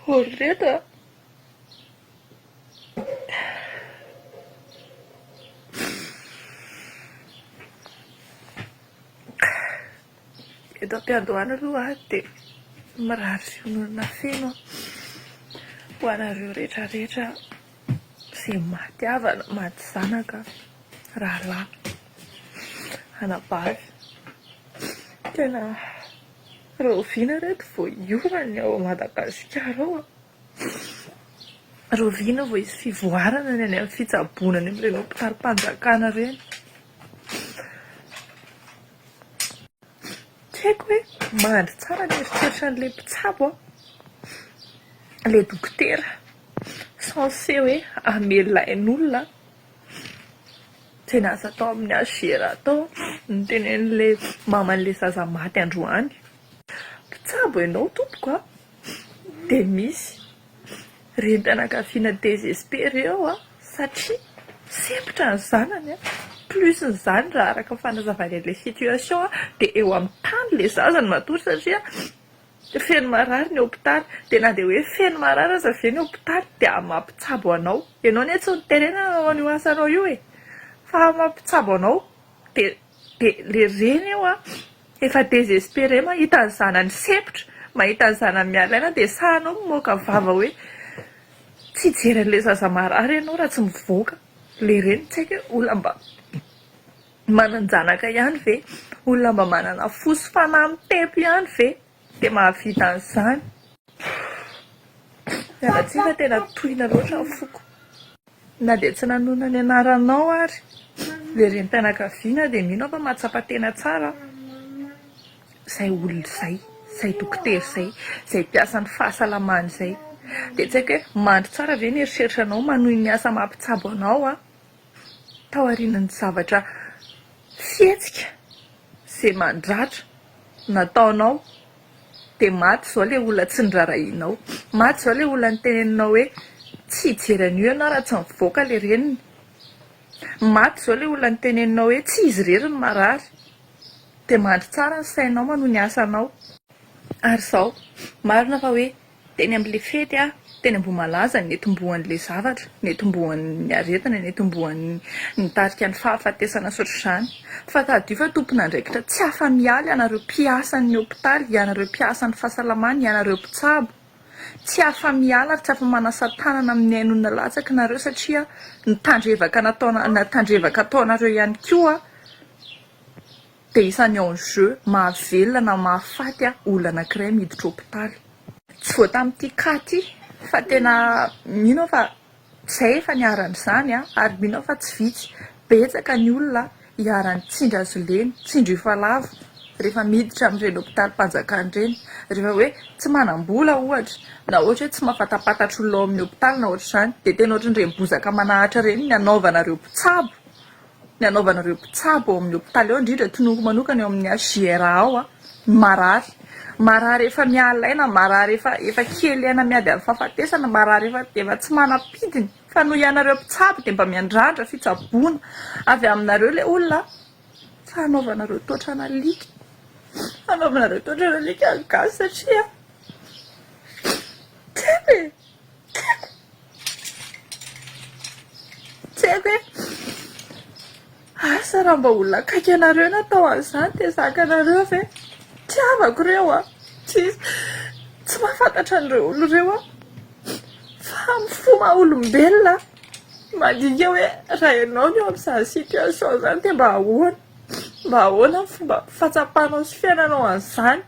Hory reto a. Eto am-piandohana aloha aho dia mirary fiononana feno aho ho anareo rehetra rehetra izay maty havana, maty zanaka, rahalahy, anabavy. Tena. Rahoviana reto vao hiova ny ao Madagasikara ao a! Rahoviana vao hisy fivoarana ny any amin'ny fitsaboana any amin'ireny hopitalim-panjakana ireny? Tsy haiko hoe mandry tsara ny eritreritra an'ilay mpitsabo aho, ilay dokotera censé hoe hamela ain'olona Tena aza atao amin'ny HGR atao ny tenenin'ilay maman'ilay zaza maty androany. Mpitsabo ianao tompoko a! Dia misy renim-pianakaviana désespéré ao an! satria sempotra ny zanany an! plus ny izany raha araka ny fanazavany an'ilay situation dia eo amin'ny tany ilay zaza no matory satria Feno marary ny hopitaly. Dia na dia hoe feno marary aza ve ny hopitaly dia mampitsabo anao. Ianao anie tsy niterena nanao an'io asanao io e! Fa mampitsabo anao. Dia dia ilay reny eo an, efa désespéré mahita ny zanany sempotra, mahita ny zanany miala aina dia sahy anao mamoaka vava hoe tsy hijery an'ilay zaza marary ianao raha tsy mivoaka. Ilay reny tsy haiko hoe olona mba. Manan-janaka ihany ve? Olona mba manana fo sy fanahy mitempo ihany ve dia mahavita an'izany? Pff! Miala tsiny fa tena tohina loatra ny foko. Na dia tsy nanonona ny anaranao ary ilay renim-pianakaviana dia mino aho fa mahatsapa tena tsara izay olona izay, izay dokotera izay, izay mpiasan'ny fahasalamana izay. Dia tsy haiko hoe mandry tsara ve ny eritreritranao manohy ny asa mampitsabo anao an! taorian'ny zavatra fihetsika izay mandratra nataonao dia maty izao ilay olona tsy norarahianao, maty izao ilay olona niteneninao hoe tsy hijery an'io ianao raha tsy mivoaka ilay reniny, maty izao ilay olona niteneninao hoe tsy izy irery no marary, dia mandry tsara ny sainao manohy ny asanao. Ary izao, marina fa hoe Teny amin'ilay fety aho, teny Ambohimalaza, netombohan'ilay zavatra, netombohan'ny aretina, netombohan'ny nitarika ny fahafatesana sy ohatr'izany. Fa tadidio fa tompon'andraikitra tsy afa-miala ianareo mpiasan'ny hopitaly, ianareo mpiasan'ny fahasalamana, ianareo mpitsabo. Tsy afa-miala ary tsy afa-manasa tanana amin'ny hainoana latsaky nareo satria ny tandrevaka nataona, tandrevaka ataonareo ihany koa. dia isan'ny enjeux mahavelona na mahafaty olona anankiray miditra hopitaly. Tsy vao tamin'ity cas ity fa tena mino aho fa izay efa niharan'ny izany ary mino aho fa tsy vitsy, betsaka ny olona iharan'ny tsindry azy ireny, tsindry efa lavo rehefa miditra amin'ireny hopitalim-panjakana ireny, rehefa hoe tsy manam-bola ohatra na ohatra hoe tsy mahafantampatatra olona ao amin'ny hopitaly na ohatr'izany dia tena ohatran'ireny bozaka manahatra ireny ny hanaovanareo mpitsabo. ny hanaovana ireo mpitsabo ao amin'ny hopitaly ao indrindra tononiko manokana eo amin'ny hjra ao a ny marary marary efa miala aina marary efa efa kely aina miady amin'ny fahafatesana marary efa efa tsy manam-pidiny fa noho ianareo mpitsabo dia mba miandrandra fitsaboana avy aminareo ilay olona fa hanaovana ireo tohatrana alika hanaovana ireo tohatrana alika ny gasy satria tsy haiko e Tsy haiko hoe asa raha mba olona akaiky anareo no atao an'izany dia zaka anareo ve tiavako ireo a, tsisy tsy mahafantatra an'ireo olona ireo aho fa amin'ny fo maha olombelona aho, mandinika hoe raha ianao no eo amin'izany situation izany dia mba ahoana, mba ahoana ny fomba fahatsapanao sy fiainanao an'izany.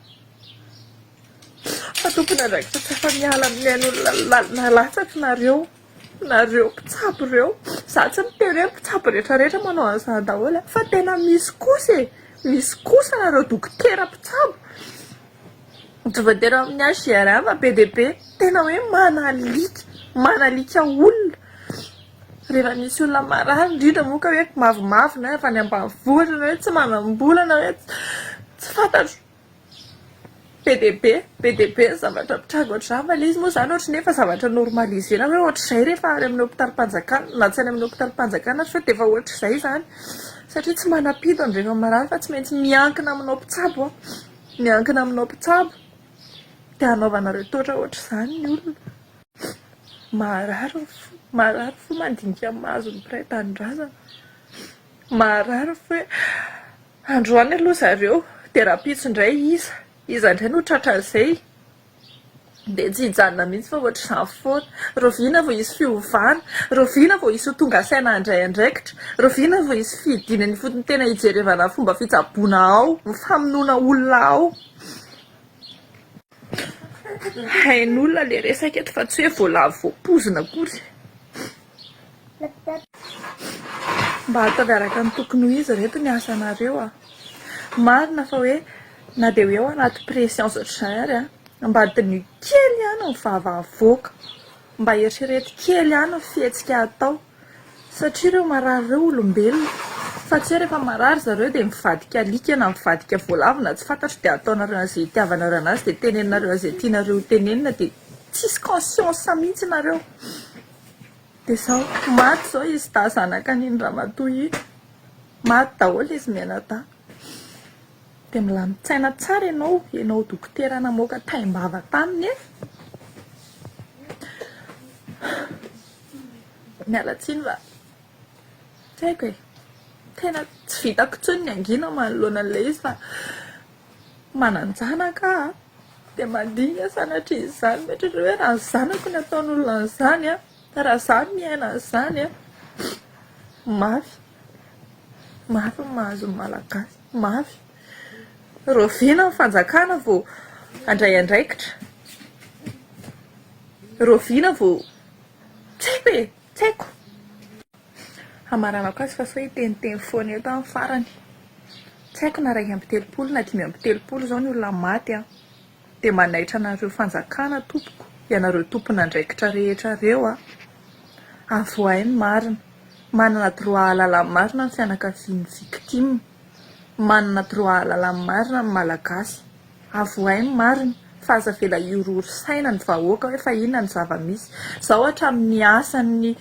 Fa tompony andraikitra tsy afa miala amin'ny ain'olona latsaka nareo nareo mpitsabo ireo za tsy miteny hoe mpitsabo rehetra rehetra manao an'izany daholo fa tena misy kosa e misy kosa nareo dokotera mpitsabo tsy voatery amin'ny HGRM fa be dia be tena hoe manalika manalika olona rehefa misy olona marary indrindra moa ka hoe mavomavo na avy any ambanivohitra na hoe tsy manam-bola na hoe tsy fantatro Be dia be, be dia be ny zavatra mitranga ohatr'izany. Fa ilay izy moa izany ohatran'ny hoe efa zavatra normaliser-na hoe ohatr'izay rehefa any amin'ny hopitalim-panjakana, na tsy any amin'ny hopitalim-panjakana aza sao dia efa ohatr'izay izany. Satria tsy manam-pido ny rehefa marary fa tsy maintsy miankina aminao mpitsabo, miankina aminao mpitsabo. Dia hanaovana retotra ohatr'izany ny olona. Maharary ny fo, maharary ny fo mandinika ny maha azon'ny mpiray tanindrazana. Maharary ny fo hoe. Androany aloha zareo dia rahampitso indray iza iza indray no tratra an'izay dia tsy hijanona mihitsy fa ohatr'izany foana. Rahoviana vao hisy fiovana? Rahoviana vao hisy ho tonga saina handray andraikitra? Rahoviana vao hisy fihidiana ny ifotony tena hijerevana ny fomba fitsaboana ao, ny famonoana olona ao? Hain'olona le resaka eto fa tsy hoe voalavo voampozina akory. Mba ataovy araka ny tokony ho izy reto ny asanareo a. Marina fa hoe na dia hoe ao anaty pressions ohatr'izany ary a, mba diniho kely ihany ny vava avoaka, mba eritrereto kely ihany ny fihetsika atao. Satria ireo marary ireo olombelona. Fa tsy hoe rehefa marary ry zareo dia mivadika alika na mivadika voalavo na tsy fantatro dia ataonareo an'izay itiavanareo an'azy dia teneninareo an'izay tianareo ho tenenina dia tsisy conscience mihitsy nareo. Dia izao. Maty izao izy dahy zanak'an'iny ramatoa iny. Maty daholo izy mianadahy. Dia milamin-tsaina tsara ianao, ianao dokotera namoaka taim-bava taminy e. Miala tsiny fa tsy haiko e. Tena tsy vitako intsony ny hangina manoloana an'ilay izy fa manan-janaka aho dia mandinika sanatria izany. Mieritreritra hoe raha ny zanako no ataon'olona an'izany an, raha izaho no miaina an'izany an, mafy. Mafy ny mahazo ny Malagasy, mafy. Rahoviana ny fanjakana vao handray andraikitra? Rahoviana vao Tsy haiko e! Tsy haiko! Hamaranako azy fa sao hiteniteny foana eto aho ny farany. Tsy haiko na iraika amby telopolo na dimy amby telopolo izao ny olona maty an! Dia manaitra anareo fanjakana tompoko, ianareo tompon'andraikitra rehetra ireo an! Avoahay ny marina. Manana droit hahalala ny marina ny fianakavian'ny victime. Manana droit hahalala ny marina ny Malagasy. Avohay ny marina fa aza avela hiorohoro saina ny vahoaka hoe fa inona ny zava-misy. Izao hatramin'ny asan'ny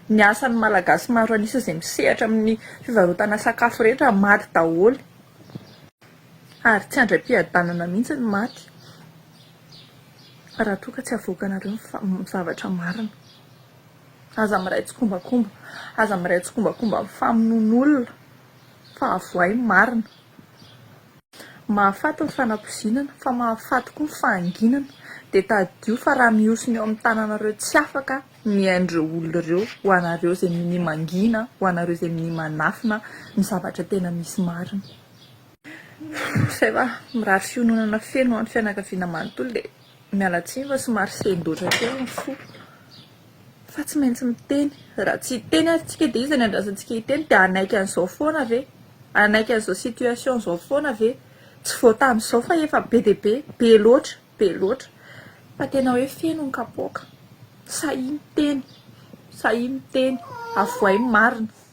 ny asan'ny Malagasy maro an'isa izay misehatra amin'ny fivarotana sakafo rehetra maty daholo ary tsy handray am-piadanana mihitsy ny maty raha toa ka tsy avoakanareo ny fa- ny zavatra marina. Aza miray tsikombakomba, aza miray tsikombakomba amin'ny famonoan'olona fa avohay ny marina. Mahafaty ny fanapoizinana, fa mahafaty koa ny fahanginana. Dia tadidio fa raha mihosina eo amin'ny tananareo tsy afaka ny ain'ireo olona ireo, ho anareo izay minia mangina, ho anareo izay minia manafina ny zavatra tena misy marina. Izay fa mirary fiononana feno ho an'ny fianakaviana manontolo dia miala tsiny fa somary sendoatra kely ny fo. Fa tsy maintsy miteny. Raha tsy hiteny ary tsika dia iza ny andrasantsika hiteny? Dia hanaiky an'izao foana ve? Hanaiky an'izao situation izao foana ve? Tsy vao tamin'izao fa efa be dia be, be loatra, be loatra. Fa tena hoe feno ny kapoaka. Sahia miteny, sahia miteny. Avohay ny marina.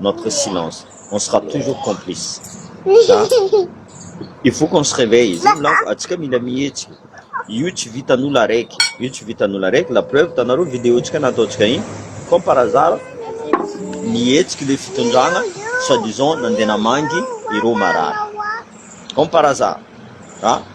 notre silence on sera toujours complice za il faut qu'on se réveille zay milaza atsika mila mihetsika io tsy vitan'olo araiky io tsy vitan'olo araiky la preuve tanareo vidéo tsika nataontsika iny comme par hasard nihetsiky le fitondrana soi disant nandeha namangy ireo marary comme par hasard ah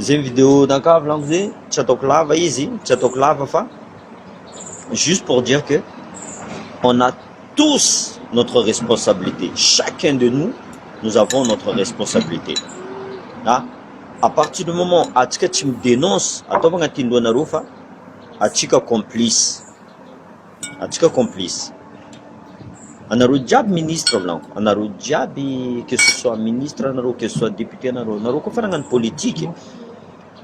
Izay ny vidéo nankavy lanko izay, tsy ataoko lava izy, tsy ataoko lava fa juste pour dire que on a tous notre responsabilité, chacun de nous, nous avons notre responsabilité. Na à partir du moment atsika tsy mi-denonce, ataovy agnatin'ny lohanareo fa atsika complice. Antsika complice. Anareo jiaby ministre volagno, anareo jiaby que ce soit ministre anareo, que ce soit député anareo, anareo koa fa nagnano politique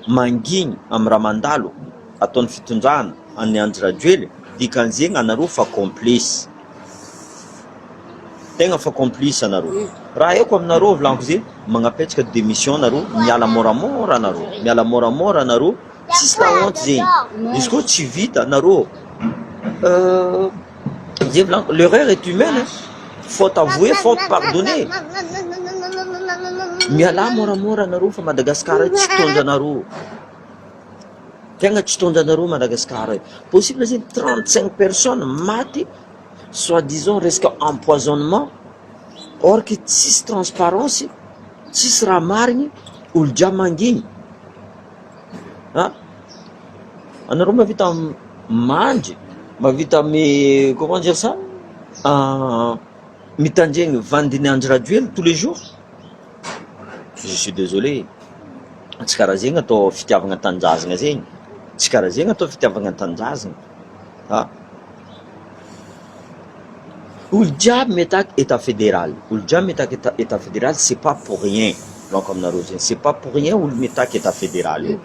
mangigny am raha mandalo ataony fitondrana any Andry Rajoely dikan'zegny anareo fa complice. Tegna fa complice anareo. Raha haiko aminareo volagno ze, magnapetraka démission nareo, miala moramora anareo, miala moramora anareo. Tsisy la honte zegny, izy koa tsy vita narô zay volaniko l'erreur est humaine hein, faute avouée, faute pardonnée, mialà môramôra narô fa Madagascar io tsy tondra anarô, tegna tsy tondra anarô Madagascar io, possible zegny trente cinq personnes maty soit disant resaka empoisonnement or que tsisy transparence, tsisy raha marigny, olo jiaby mangigny. Ah! Anareo mahavita mandry, mahavita mi comment dire ça? mitandregny vandin'i Andry Rajoely tous les jours? Je suis désolé, tsy karaha zegny atao fitiavagna tanindrazagna zegny, tsy karaha zegny atao fitiavagna tanindrazagna ah! Olo jiaby mitaky etat federal, olo jiaby mitaky etat federal c'est pas pour rien, volako aminareo zay, c'est pas pour rien olo mitaky etat federal io.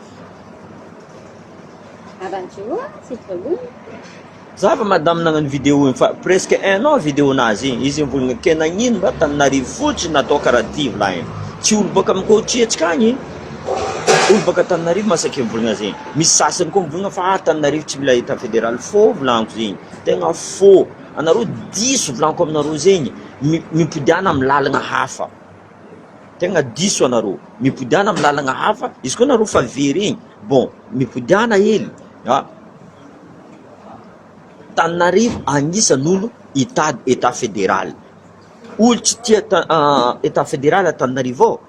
Za efa madame nagnano vidéo iny fa presque un an vidéo nazy iny, izy mivolagna ke nagnino mba taninarivo fotsiny atao karaha ty volagniny, tsy olo boaka aminy coach hetsika agny. Olo baka Antananarivo masaky mivolagna zegny, misy sasany koa mivolagna fa Antananarivo tsy mila etat federal, faux volagniko zegny, tegna faux, anareo diso volagniko aminareo zegny, mipodiagna amin'ny lalagna hafa, tegna diso anareo, mipodiagna amin'ny lalagna hafa, izy koa nareo fa very igny bon mipodiagna hely a, Antananarivo agnisany olo hitady etat federal, olo tsy tia etat federal Antananarivo ao.